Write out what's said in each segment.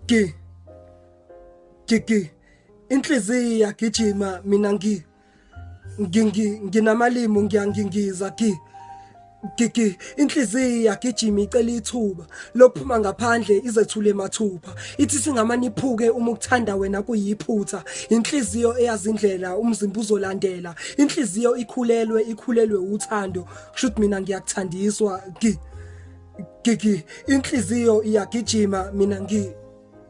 ki kiki inhliziyo yagijima mina ngi ngingi nginamalimu ngiyangingiza ki Gigi inhliziyo yagijima icela ithuba lokuphuma ngaphandle izethule mathupha ithi singamani iphuke uma ukuthanda wena kuyiphutha inhliziyo eyazindlela umzimba uzolandela inhliziyo ikhulelwe ikhulelwe uthando kushuthi mina ngiyakuthandiswa gi gigi inhliziyo iyagijima mina ngi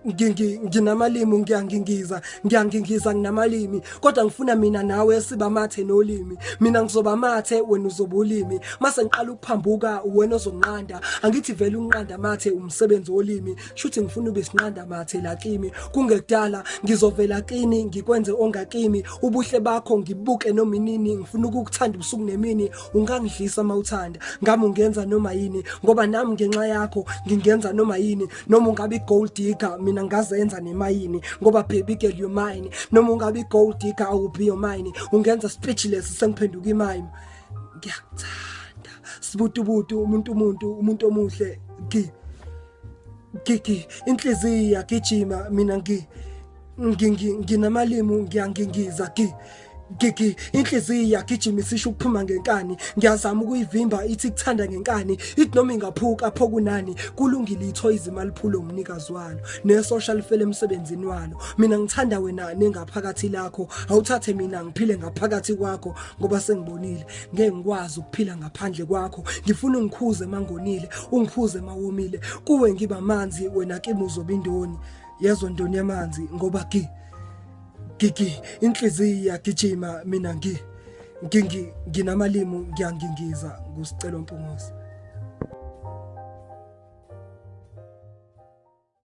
nginamalimu ngiyangingiza ngiyangingiza nginamalimi kodwa ngifuna mina nawe siba mathe nolimi mina ngizoba mathe wena uzoba ulimi mase ngiqala ukuphambuka wena ozonqanda angithi vele unqanda mathe umsebenzi wolimi shuthi ngifuna ube sinqanda mathe la kimi kungekudala ngizovela kini ngikwenze ongakimi ubuhle bakho ngibuke noma inini ngifuna ukukuthanda ubusuku nemini ungangidlisa mawuthanda ngami ungenza noma yini ngoba nami ngenxa yakho ngingenza noma yini noma ungabe gold digger mina ngazenza nemayini ngoba baby girl you mine noma ungabe gold digger i will be your mine ungenza speechless sengiphenduka imine ngiyakuthanda sibutubutu umuntu umuntu umuntu omuhle gi Gigi inhliziyi yagijima mina ngi nginamalimu ngiyangingiza gi gigi inhliziyi yagijima isisho ukuphuma ngenkani ngiyazama ukuyivimba ithi kuthanda ngenkani ithi noma ingaphuka pho kunani kulungile itho izimali phulo umnikazi walo nesosha lifele emsebenzini walo mina ngithanda wena nengaphakathi lakho awuthathe mina ngiphile ngaphakathi kwakho ngoba sengibonile ngeke ngikwazi ukuphila ngaphandle kwakho ngifuna ungikhuze mangonile ungikhuze mawomile kuwe ngiba manzi wena kimi uzobindoni yezo ndoni yamanzi ngoba ki gigi inhliziyo yagijima mina ngi ngingi nginamalimu ngiyangingiza ngusicelo mpunguzi